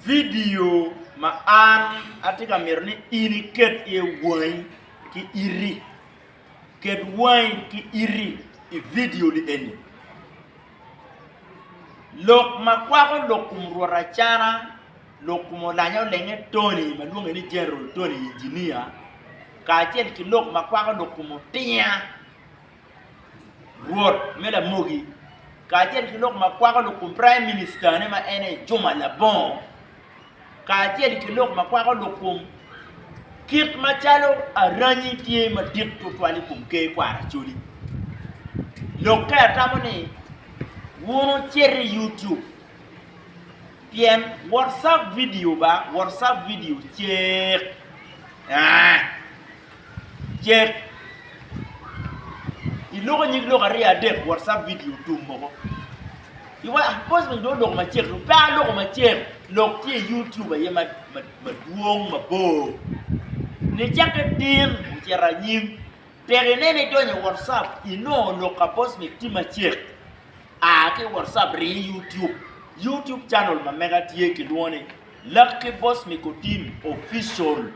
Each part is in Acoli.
Vidio ma an atye ka mito ni in iket iye wangi ki iti. Ket wangi ki iti i vidio-ni eni. Lok ma kwako lok kom rwot Acana, lok kom olanya olenge Tony ma lwonge ni General Tony Inginia, kacel ki lok ma kwako lok kom Otinya. Rwot me Lamogi, kacel ki lok ma kwako lok kom Praim Minicitane ma en aye Juma Labongo, kacel ki lok ma kwako lok kom kit macalo aranyi tye madit twatwal i kom Ker kwaro Acholi. Lokke atamo ni wun wucit i YouTube pien WhatsApp video ba, WhatsApp video cek. Cek i loko nyig lok aryo adek WhatsApp video tum moko. Iwa ah boss man do loko macek do pe aloko macek lok tye YouTube aye ma ma madwong mabor. Ni cakke tin ocito anyim tek inene idonyo WhatsApp inongo lok ka boss man tye macek. A ki WhatsApp rii YouTube. YouTube channel ma mega tye kilwongo ni Lucky Boss Miko Team Official.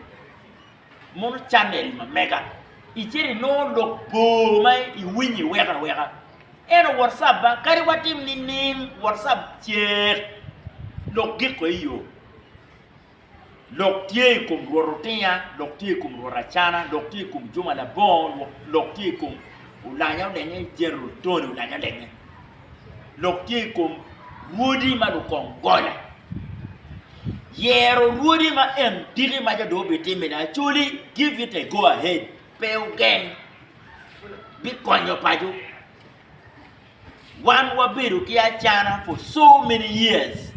Mono channel ma mega icito inongo lok bor ma iwinyo iweko aweka eno WhatsApp ba kadi watim nining WhatsApp cek lok giko i yo lok tye i kom Rwot Otinya lok tye i kom Rwot Acana lok tye i kom Juma Labongo lok tye i kom Olanya Olenya General Tony Olanya Olenya lok tye i kom rwodi ma lukong gonya. Yero rwodi ma en diki ma jadoo bitimmene acoli give it a go ahead pe ogeng bikonyo paco. Wan wabedo ki acana for so many years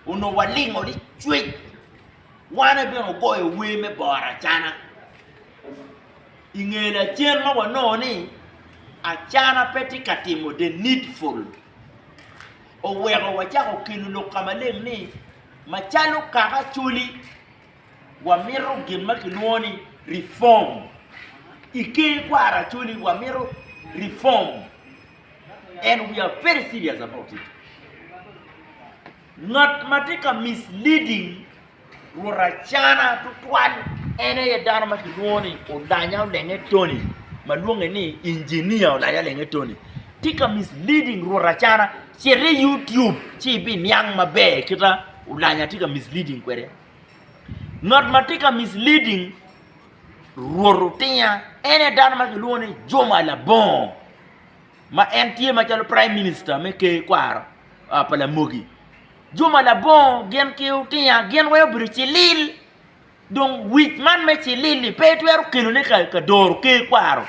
onongo walingo ni cwec Wane bene ogoyo wer me boro acana. I nge lacen ma wanongo ni acana pe tye ka timo the needful, oweko wacako kelo lok ka maleng ni macalo kaka Acholi, wamito gin ma kilwongo ni reform. I ker kwaro Acholi wamito reform and we are very serious about it. Ngat ma tye ka misleading Rwot Acana tutwal en aye dano ma kilwongo ni Olanya Olenge Tony ma lwonge ni Engineer Olanya Olenge Tony tye ka misleading Rwot Acana cit i YouTube ci ibiniang maber kite Olanya tye ka misleading kwede ngat ma tye ka misleading Rwot Otinya en aye dano ma kilwongo ni Juma Labongo ma en tye macalo Praim Minista me Ker kwaro pa Lamogi Juma labongo gin ki otinya gin weng obedo cilil dong wic man me cilil-li pe itwero kelone ka doro ker kwaro.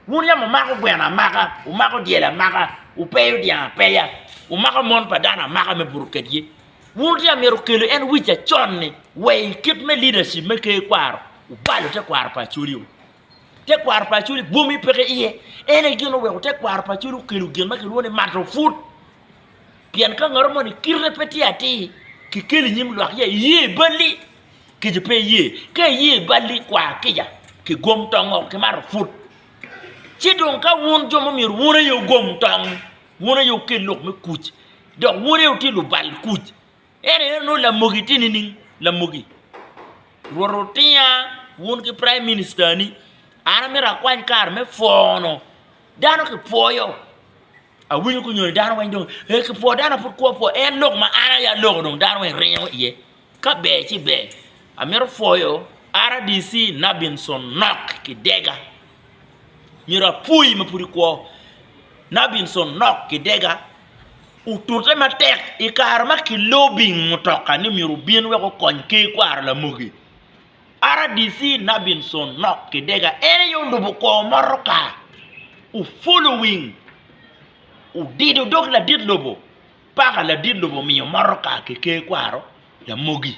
Wun yam wumako gweno amaka, wumako dyel amaka, wupeyo dyang apeya, wumako mon pa dano amaka me buto kedgi. Wun wutye ka myero wukelu en wic acon-ni wa i kit me leadership me ker kwaro, wubalo tekwaro pa Acholi-wu. Tekwaro pa Acholi bwomi peke iye. En aye gin oweko tekwaro pa Acholi okelo gin ma kilwongo ni mato put. Pien ka ngat moni kite pe tye atir, kikeli i nyim lwak ya iye i balli, kica pe iye. Ka iye i balli, kwa kica, kigom tong oko, kimato put. Ci dong ka wun jo ma myero wun aye wugom tong, wun aye wukel lok me kuc, dok wun aye wutye lubal kuc, En aye onongo lamogi tye nining? Lamogi, Rwot otinga wun ki praim minicitani, an amito akwany kare me pwono dano kipwoyo. Awinyo kunyoni dano weng dong ee kipwoo dano pud kwo apwoa en lok ma an aye aloko dong dano weng ringo iye ka ber ci ber amito pwoyo RDC Nabinson Nok Kidega myero apwoyi ma pud ikwo Nabinson Nok Kidega. otute matek i kare ma kilobing mutoka ni myero obin wek okony Ker Kwaro Lamogi, rdc Nabinson Nok Kidega en aye olubo kwor motoka ofulo wing odido dog ladit lobo paka ladit lobo omiyo motoka ki Ker Kwaro Lamogi.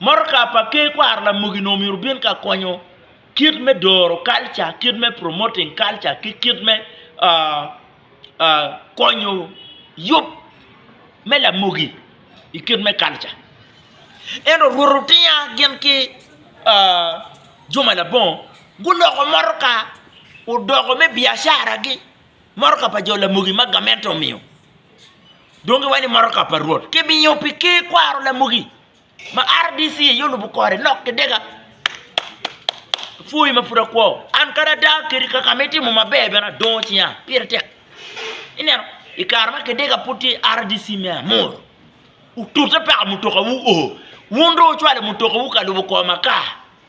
Motoka pa Ker Kwaro Lamogi onongo myero obin ka konyo kit me doro kalca, kit me promoting kalca ki kit me konyo yub me lamogi i kit me kalca ento rwot otinga gin ki juma labongo guloko motoka odoko me biacaragi motoka pa jo lamogi ma gamente omiyo dong giwaco ni motoka pa rwot, kibiyo pi ker kwaro lamogi. Ma rdc aye olubo kore nok ki dega pwoyi ma pud akwo an kadi ada kadi kaka ma itimo maber bene adongo cinga pire tek ineno i kare ma kidega pud tye i rdc me amuru otute paka mutoka wu oo wun dong wucwalo mutoka wu ka lubo kor makar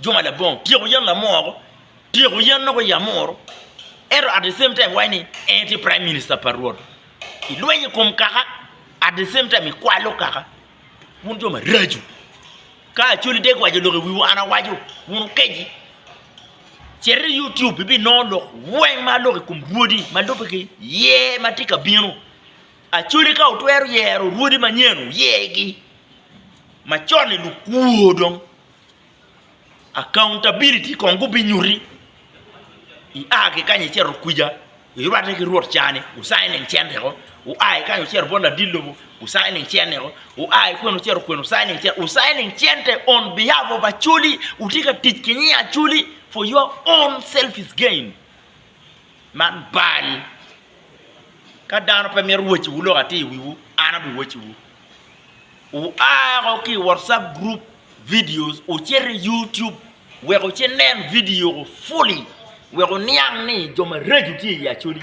juma labongo tyeko yen lamoro, tyeko yen loko i amuru ento at the same time iwaco ni en tye prime minister pa Rwot. Ilweny i kom kaka at the same time ikwalo kaka. Wun jo maraco. Ka Acholi dek waco lok i wiwu an awaco wun wukeci. Cit i YouTube ibinongo lok weng ma aloko i kom Rwodi ma lubbe ki ye ma tye ka bino. Acholi ka wutwero yero Rwodi manyen wuyegi. Macon-ni lukwo dong. Accountability kong gubinyuti ia ki kany icito kwica irwatte ki rwot ca ni wu signing cente o, wua ki kany wucito bot ladit lobo wu signing cene o, wua ki kwica wucito kwene wu signing cente on behalf of Acholi wutye ka tic ki nying Acholi for your own selfish gain man bal ka dano pe mito woco wu lok atir i wiwu an abiwoco wu. Wua woko ki i WhatsApp group videos wucit i YouTube wek wunen video fully wek wuniang ni jo mareco tye i Acholi.